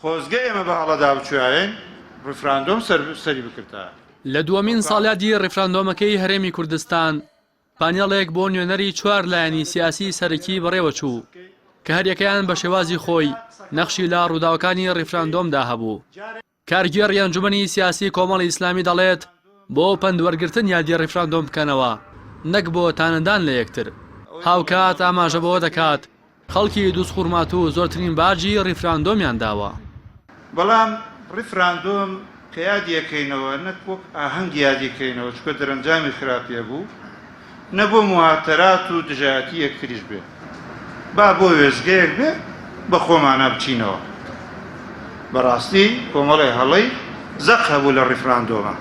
خۆزگە ئێمە بە هەڵەدا بچویایەین ڕیفراندۆم سەری بکردایە. لە دووەمین ساڵیادی ڕیفراندۆمەکەی هەرێمی کوردستان، پانێڵێک بۆ نوێنەری چوار لایەنی سیاسیی سەرەکی بەڕێوەچوو، کە هەریەکەیان بە شێوازی خۆی نەخشی لە ڕووداوەکانی ڕیفراندۆمدا هەبوو. کارگێڕی ئەنجومەنی سیاسی کۆمەڵی ئیسلامی دەڵێت، بۆ پەندوەرگرتن یادی ڕیفراندۆم بکەنەوە، نەک بۆ تانەدان لە یەکتر. هاوکات ئاماژە بەوە دەکات، خەڵکی دوزخورماتوو زۆرترین باجی ڕیفراندۆمیان داوە. بەڵام ڕیفراندۆم کە یادی ئەکەینەوە نەک وەک ئاهەنگ یادی کەینەوە چونکە دەرەنجامی خراپی هەبوو نە بۆ موهاتەرات و دژایەتی یەکتریش بێ با بۆ وێستگەیەک بێ بە خۆمانا بچینەوە بەڕاستی کۆمەڵێ هەڵەی زەق هەبوو لە ڕیفراندۆمە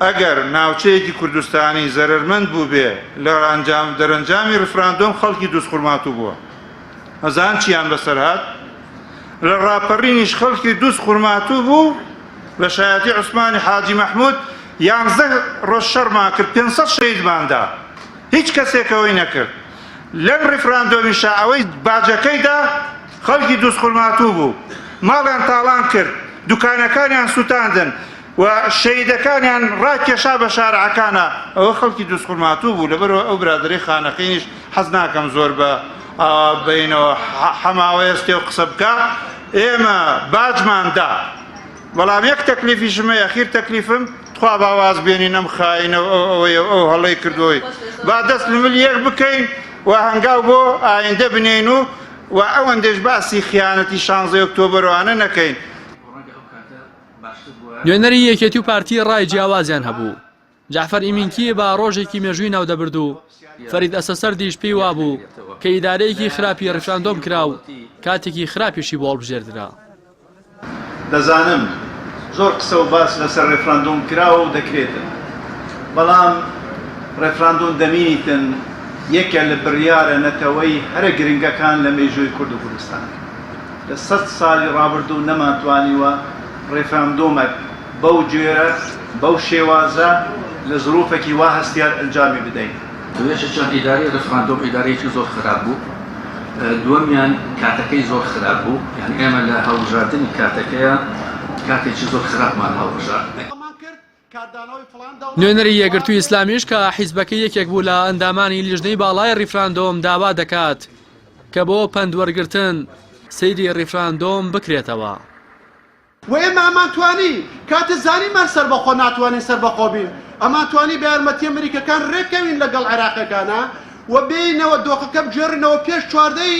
ئەگەر ناوچەیەکی کوردستانی زەرەرمەند بووبێ لە ئەنجام دەرەنجامی ڕیفراندۆم خەڵکی دووز خورماتوو بووە ئەزان چیان بەسەر هات لە ڕاپەڕینیش خەڵکی دووز خورماتوو بوو لە شایەتی عوسمانی حاجی مەحمود یانزە ڕۆژ شەڕمان کرد پێنج سەد شەهیدماندا هیچ کەسێکەوەی نەکرد لەم ڕیفراندۆمیشا ئەوەی باجەکەیدا خەڵکی دووز خورماتوو بوو ماڵیان تاڵان کرد دوکانەکانیان سووتاندن و شەهیدەکانیان ڕاکێشا بە شارعەکانا، ئەوە خەڵکی دوزخورماتوو بوو، لەبەرئەوە ئەو برادەرەی خانەقینیش حەز ناکەم زۆر بە ئاوا بەینەوە حەماوەێستێ و قسە بکا، ئێمە باجمان دا، بەڵام یەک تەکلیفیشم هەیە، ئەخیر تەکلیفم، تخوا با واز بێنین ئەم خائینە و ئەو ئەوەی و ئەو هەڵەی کردووەی، با دەست لمل یەک بکەین و هەنگاو بۆ ئایندە بنێین و و ئەوەندەیش باسی خیانەتی شانزەی ئۆکتۆبەر و ئەوانە نەکەین. نوێنەری یەکێتی و پارتی ڕای جیاوازیان هەبوو جعفەر ئیمینکی با ڕۆژێکی مێژووی ناودەبرد و فەرید ئەسەسەردیش پێی وابوو کە ئیدارەیەکی خراپی ڕفراندۆم کرا و کاتێکی خراپیشی بۆڵ بژێردرا دەزانم زۆر قسە و باس لەسەر ڕێفراندۆم کراوە و دەکرێتن بەڵام ڕێفراندۆم دەمینیتن یەکە لە بڕیارە نەتەوەی هەرە گرنگەکان لە مێژووی کورد و کوردستان. لە سەد سالی ڕابردوو نەمانتوانیوە ڕێفراندۆمەک بەو جۆرە، بەو شێوازە، لە زروفەکی وا هەستیار ئەنجامی بدەین. یەکێکیان ئیدارەی ڕێفراندۆم ئیدارەیەکی زۆر خراپ بوو، دووەمیان کاتەکەی زۆر خراپ بوو، یانی ئێمە لە هەڵبژاردنی کاتەکەیا کاتێکی زۆر خراپمان هەڵبژارد. نوێنەری یەکگرتووی ئیسلامیش کە حیزبەکەی یەکێک بوو لە ئەندامانی لیژنەی باڵای ڕیفراندۆم داوا دەکات کە بۆ پەند وەرگرتن سەیری ڕیفراندۆم بکرێتەوە. و ئێمە ئەمان توانی کاتێ زانیمان سەربەخۆ ناتوانین سەربەخۆ بین ئەمان توانی بە یارمەتیە مریکەکان رێکەوین لەگەڵ عێراقیەکانا و بێینەوە دۆخەکە بگێڕینەوە پێش چواردە ی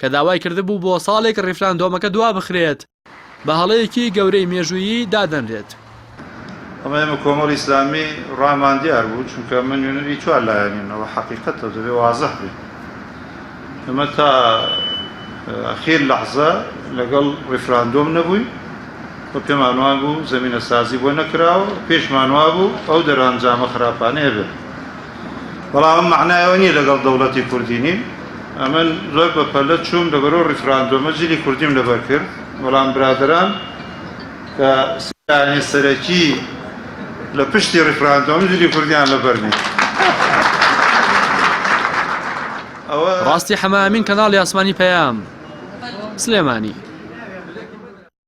کە داوای کردبوو بۆ ساڵێک ڕیفراندۆمەکە دوابخرێت، بە هەڵەیەکی گەورەی مێژوویی دادەنرێت. ئەمە ئێمە کۆمەڵی ئیسلامی ڕامان دیار بوو، چونکە ئەمە نوێنەری چوار لایەنین، ئەوە حەقیقەتە و دەبێت وازح بێت. ئێمە تا ئاخیر لەحزە لەگەڵ ڕیفراندۆم نەبووین و پێمان وابوو زەمینەسازی بۆ نەکراوە و پێشمان وابوو ئەو دەرئەنجامە خراپانەیە بێت. بەڵام ئەم مەعنای ئەوە نییە لەگەڵ دەوڵەتی کوردی نیم، ئەمن زۆر بە پەلە چووم لەبەر ئەو ڕیفراندۆمە جلی کوردیم لەبەر کرد، بەڵام برادەران کە سیانە سەرەکی لە پشتی ڕیفراندۆم جلی کوردیان لەبەر نییە. ڕاستی حەمە ئەمین کەناڵی ئاسمانی پەیام سلێمانی.